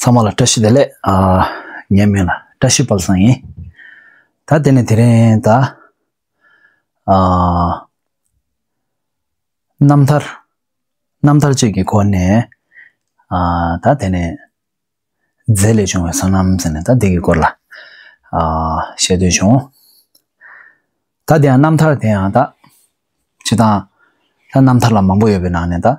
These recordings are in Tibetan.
ཚང་མ་ལ་བཀྲ་ཤིས་བདེ་ལེགས། ངའི་མིང་ལ་བཀྲ་ཤིས་དཔལ་བཟང་ཡིན། ད་དེ་ནས་དེ་རིང་ད། རྣམ་ཐར། རྣམ་ཐར་བཅས་ཀྱི་སྐོར་ནས། ད་དེ་ནས། རྫས་ལས་བྱུང་བའི་བསོད་ནམས་ཟེར་ནས་ད་དེ་ཀྱི་སྐོར་ལ། བཤད་འདོད་བྱུང། ད་དེ་ཡང་རྣམ་ཐར་དེ་ཡང་ད། བྱེད་སྟངས། ད་རྣམ་ཐར་ལ་མང་པོ་ཡོད་པའི་ནང་ནས་ད།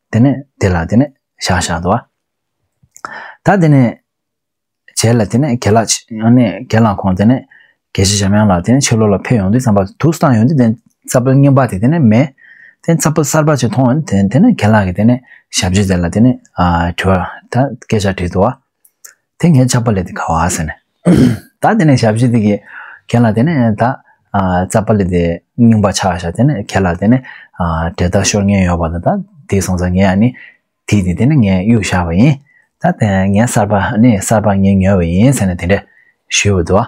དེ་ནས་དེ་ལ་དེ་ནས་ཤ་ཤ་དོ་བ་ད་དེ་ནས་ཇེ་ལ་དེ་ནས་གེ་ལ་ཡང་ནས་གེ་ལ་ཁོང་དེ་ནས་གེ་ཤི་ཞམ་ཡང་ལ་དེ་ནས་ཆེ་ལོ་ལ་ཕེ་ཡོང་དེ་ཙམ་པ་དུག་སྟངས་ཡོང་དེ་དེ་ཙ་པ་ཉིན་པ་དེ་དེ་ནས་མེ་དེ་ཙ་པ་སར་པ་ཅི་མཐོང་དེ་དེ་ནས་གེ་ལ་གེ་དེ་ནས་ཞབས་ཅི་དེ་ལ་དེ་ནས་ཨ་དྲི་བ་ད་གེ་ཤ་དྲི་དོ་བ་དེ་ངས་ཆགས་པ་ལས་དེ་ག་བ་ཟེར་ནས། ད་དེ་ནས་ཞབས་ཕྱི་དེ་གི་གན་ལ་དེ་ནས་ད་རྩ་པ་ལས་དེ་རྙིང་པ་ཆགས་ཤ་དེ་ནས་གན་ལ་དེ་ནས་དེ་ད་ཤོར་ཉེན་ཡོད་པ་ལ་ད་དེ་སོང་ཙང་ངས་ནི་དེ་དེ་དེ་ནས་ངས་གཡུག་བཞག་པ་ཡིན། ད་དེ་ངས་གསར་པ་ནི་གསར་པ་ངས་ཉོས་པ་ཡིན་ཟེར་ནས་དེ་འདྲས་ཞུས་བ་འདུག།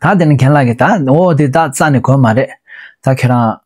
ད་དེ་ནས་གན་ལ་གི་ད་འོ་དེ་ད་རྩ་ནི་གོན་མ་རེད། ད་ཁྱེད་རང།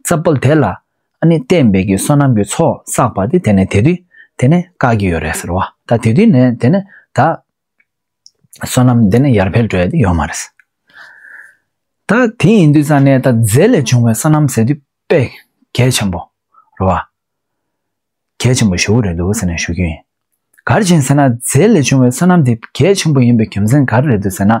རྩ་བརྒྱུད་དེ་ལ་ནི་བསྟན་པའི་གི་བསོད་ནམས་ཀྱི་ཚོགས་བསགས་པ་དེ་དེ་ནས་དེ་དུས་དེ་ནས་བཀག་གི་ཡོད་རེད་ཟེར་བ་ད་དེ་དུས་ནས་དེ་ནས་ད། བསོད་ནམས་དེ་ནས་ཡར་འཕེལ་འགྲོ་ཡ་དེ་ཡོད་མ་རེད། ད་དེ་ཡིན་དུས་ས་ནས་ད་རྫས་ལས་བྱུང་བའི་བསོད་ནམས་ཟེར་དུས་དཔེ་གལ་ཆེན་པོ་རེད་བ། གལ་ཆེན་པོ་ཞུ་གི་རེད་འདུག་ཟེར་ནས་ཞུ་རྒྱུ་ཡིན། གར་བྱིན་ཟེར་ན་རྫས་ལས་བྱུང་བའི་བསོད་ནམས་དེ་གལ་ཆེན་པོ་ཡིན་པའི་རྒྱུ་མཚན་ག་རེ་རེད་འདུག་ཟེར་ན།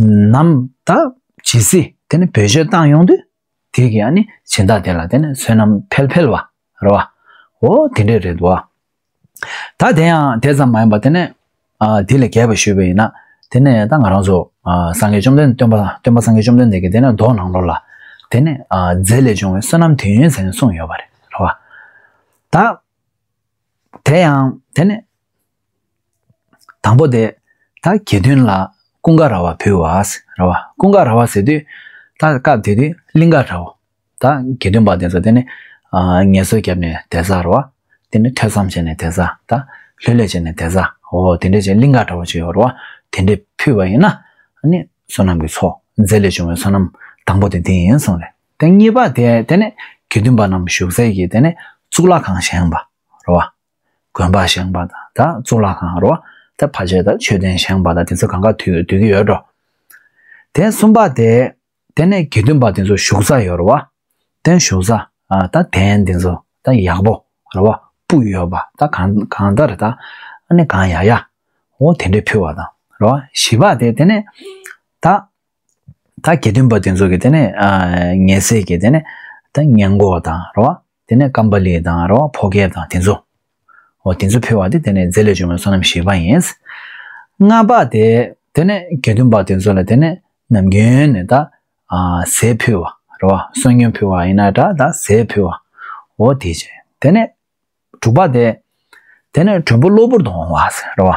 ནམ་ཟླ་ཇི་སྲིད་དེ་ནི་བོད་ཆོས་བཏང་ཡོང་དུས་དེ་གི་ཡང་ནི་བྱིན་བདག་དེ་ལ་དེ་ནི་བསོད་ནམས་འཕེལ་འཕེལ་བ་རེད་བ། འོ་དེ་འདྲས་རེད་འདུག་ཨ། ད་དེ་ཡང་དེ་ཙམ་མ་ཡིན་པ་དེ་ནི། དེ་ལས་རྒྱས་པ་ཞུས་པ་ཡིན་ན་དེ་ནི་ད་ང་རང་ཚོ་སངས་རྒྱས་བཅོམ་ལྡན་འདས་སྟོན་པ་སྟོན་པ་སངས་རྒྱས་བཅོམ་ལྡན་འདས་ཀྱིས་དེ་ནི་མདོ་ནང་ལོ་ལ་དེ་ནི་རྫས་ལས་བྱུང་བའི་བསོད་ནམས་དུས་ཡུན་ཟེར་ནས་གསུངས་ཡོད་པ་རེད་བ། ད་དེ་ཡང་དེ་ནི་དང་པོ་དེ། ད་གེ་དོན་ལ་ཀུན་དགའ་ར་བ་བུ་བ་ར་བ་ཀུན་དགའ་ར་བ་ཟེར་དུས་ད་སྐབས་དེ་དུས་གླིང་ག་རའོ། ད་གེ་དོན་པ་དེ་ཚོ་དེ་ནི། ངལ་གསོ་བརྒྱབ་ནས་དེ་ཟ་ར་བ། དེ་ནི་ཐོས་བསམ་བྱས་ནས་དེ་ཟ་ད། ལྷོད་ལྷོད་བྱས་ནས་དེ་ཟ་འོ་དེ་འདྲས་ཀྱི་གླིང་ག་ར་བ་ཅིག་ཡོད་ར་བ་དེ་འདྲས་ཕུད་པ་ཡིན་ན། ནི་བསོད་ནམས་ཀྱི་ཚོགས་རྫས་ལས་བྱུང་བའི་བསོད་ནམས་དང་པོ་དེ་འདི་ཡིན་གསུངས་ལས། དེ་གཉིས་པ་དེ་དེ་ནི་གེ་དོན་པ་རྣམས་ཞུགས་ཚལ་གྱི་དེ་ནི་གཙུག་ལག་ཁང་བཞེངས་པ་ར་བ། དགོན་པར་བཞེངས་པ་དང་དང་གཙུག་ལག་ཁང་རོ་དེ་བར་ཆད་དང་མཆོད་རྟེན་བཞེངས་པ་དང་དེ་ཚོ་གང་ག་དུས་དུས་ཀྱི་ཡོད་འགྲོ། དེ་གསུམ་པ་དེ་དེ་ནས་དགེ་འདུན་པ་དེ་ཚོ་བཞུགས་ས་ཡོད་རོ། དེ་བཞུགས་ས་དང་དེན་དེ་ཚོ་དང་ཡག་པོ་རོ་བ་སྤུ་ཡོད་པ་དང་གང་གང་ལྟར་དང་ནི་གང་ཡག་ཡག་འོ་དེ་འདྲས་ཕུལ་བ་དང་རོ་བཞི་པ་དེ་དེ་ནས་ད་ད་དགེ་འདུན་པ་དེ་ཚོ་གི་དེ་ནས་ཉེས་སེལ་གྱི་དེ་ནས་ད་ཉེན་འགོག་དང་རོ་བ་དེ་ནས་ཀམ་པ་ལི་དང་རོ་ཕོ་གེ་དང་དེ་ཚོ། འོ་དེ་ཚོ་ཕུལ་བ་དེ་དེ་ནས་རྫས་ལས་བྱུང་བའི་བསོད་ནམས་བཞི་པ་ཡིན། ལྔ་པ་དེ། དེ་ནས་དགེ་འདུན་པ་དེ་ཚོ་ལ་དེ་ནས་ནམ་རྒྱུན་ནས་ད། ཟས་ཕུལ་བ། རོ་བསོད་སྙོམས་ཕུལ་བ་ཡིན་ན་འདྲ་ད་ཟས་ཕུལ་བ། འོ་དེ་བྱས། དེ་ནས། དྲུག་པ་དེ། དེ་ནས་དྲོན་པོ་གློ་བུར་དུ་འོང་བ། རོ།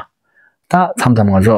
ད་མཚམས་མཚམས་ང་ཚོ།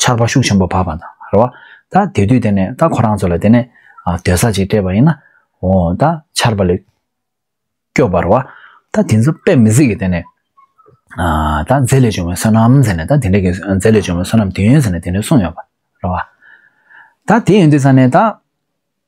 ཆར་པ་ཤུགས་ཆེན་པོ་བབས་པ་དང་རེད་བ། ད་དེ་དུས་དེ་ནས་ད་ཁོ་རང་ཚོ་ལ་དེ་ནས་སྡོད་ས་ཅིག་སྤྲད་པ་ཡིན་ན། འོ་ད་ཆར་པ་ལས་སྐྱོབ་པར་བ། ད་དེ་ཚོ་དཔེ་མི་གཟིགས་ཀྱི་དེ་ནས། ད་རྫས་ལས་བྱུང་བའི་བསོད་ནམས་ཟེར་ནས་ད་དེ་འདྲ་གི་རྫས་ལས་བྱུང་བའི་བསོད་ནམས་དེ་ཡོན་ཟེར་ནས་དེ་འདྲ་གསུངས་ཡོད་པ་རེད་བ། ད་དེ་ཡིན་དུས་ས་ནས་ད།